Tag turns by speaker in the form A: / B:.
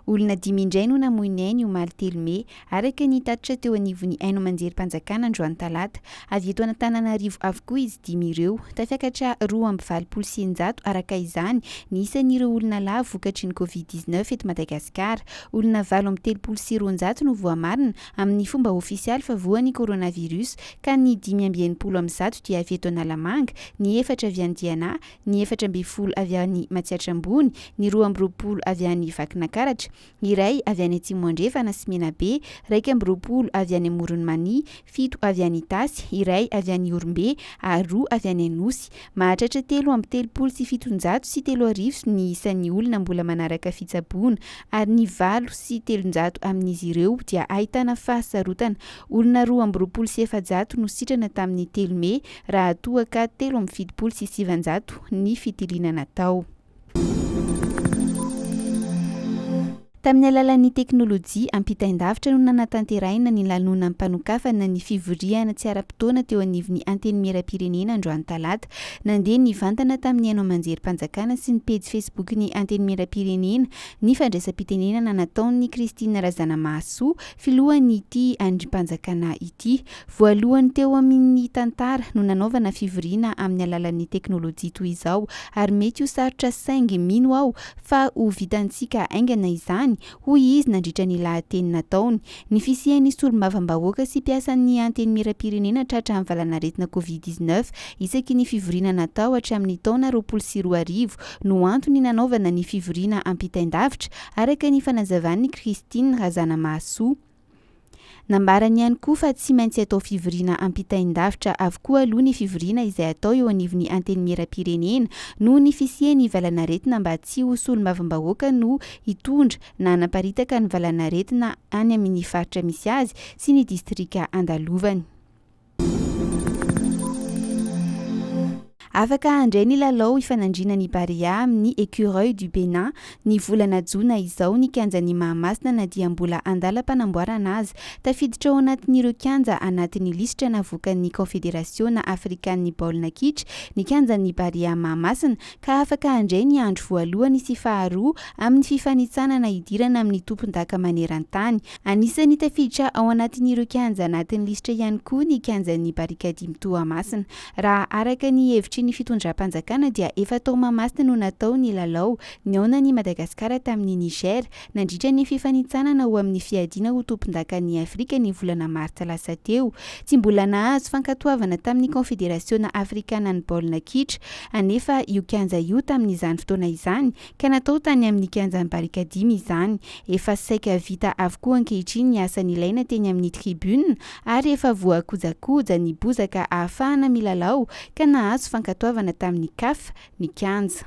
A: Olona dimy indray no namoy ny ainy omaly telo mey, araka ny tatitra teo anivon'ny haino aman-jerim-panjakana androany talata. Avy eto Antananarivo avokoa izy dimy ireo. Tafiakatra roa amby valopolo sy eninjato araka izany ny isan'ireo olona lahy vokatry ny Covid dix-neuf eto Madagasikara. Olona valo amby telopolo sy roanjato no voamarina amin'ny fomba ofisialy fa voa ny coronavirus ka ny dimy amby enimpolo amin'ny zato dia avy eto Analamanga, ny efatra avy any Diana, ny efatra ambin'ny folo avy any Matsiatra Ambony, ny roa amby roapolo avy any Vakinankaratra, iray avy any Atsimo Andrefana sy Menabe, iraika amby roapolo avy any Amoron'i Mania, fito avy any Itasy, iray avy any Ihorombe ary roa avy any Anosy. Mahatratra telo amby telopolo sy fitonjato sy telo arivo ny isan'ny olona mbola manaraka fitsaboana, ary ny valo sy telonjato amin'izy ireo dia ahitana fahasarotana. Olona roa amby roapolo sy efajato no sitrana tamin'ny telo mey, raha toa ka telo amby fitopolo sy sivanjato ny fitiliana natao. Tamin'ny alalan'ny teknolojia ampitain-davitra no nanatanterahina ny lanonam-panokafana ny fivoriana tsy ara-potoana teo anivon'ny Antenimierampirenena androany talata. Nandeha nivantana tamin'ny haino aman-jerim-panjakana sy ny pejy Facebook-n'ny Antenimierampirenena ny fandraisam-pitenenana nataon'i Christine Razanamahasoa, filohan'ity andrim-panjakana ity. Voalohany teo amin' ny tantara no nanaovana fivoriana amin' ny alalan' ny teknôlôjia toy izao, ary mety ho sarotra saingy mino aho fa ho vitantsika haingana izany, hoy izy nandritra ny lahateny nataony. Ny fisian' ny solombavambahoaka sy mpiasan' ny Antenimierampirenena tratra amin' ny valanaretina Covid dix-neuf isaky ny fivoriana natao hatramin' ny taona roapolo sy roa arivo no antony nanaovana ny fivoriana ampitain-davitra, araka ny fanazavan' i Christine Razanamahasoa. Nambarany ihany koa fa tsy maintsy atao fivoriana ampitain-davitra avokoa aloha ny fivoriana izay atao eo anivon'ny Antenimierampirenena noho ny fisian'ny valanaretina mba tsy ho solombavambahoaka no hitondra na hanaparitaka ny valanaretina any amin'ny faritra misy azy sy ny distrika andalovany. Afaka handray ny lalao ifanandriana ny Barea amin'ny Ecureuils du Bénin ny volana jona izao ny kianjan'i Mahamasina na dia mbola an-dalam-panamboarana aza. Tafiditra ao anatin'ireo kianja anatin'ny lisitra navoakan'ny Kaonfederasiona afrikan'ny baolina kitra ny kianjan'ny Barea Mahamasina ka afaka handray ny andro voalohany sy faharoa amin'ny fifanintsanana hidirana amin'ny tompondaka maneran-tany Anisan'ny tafiditra ao anatin'ireo kianja anatin'ny lisitra ihany koa ny kianjan'ny Barikadimy Toamasina. Raha araka ny hevitry ny fitondram-panjakana dia efa tao Mahamasina no natao ny lalao nihaonan'i Madagasikara tamin'i Niger nandritra ny fifanintsanana ho amin'ny fiadiana ho tompondakan'i Afrika ny volana martsa lasa teo. Tsy mbola nahazo fankatoavana tamin'ny Kaonfederasiona Afrikanan'ny Baolina Kitra anefa io kianja io tamin'izany fotoana izany ka natao tany amin'ny kianjan'i Barikadimy izany. Efa saika vita avokoa ankehitriny ny asa nilaina teny amin'ny tribune ary efa voakojakoja ny bozaka ahafahana milalao ka nahazo fankatoavana tamin'ny Caf ny kianja.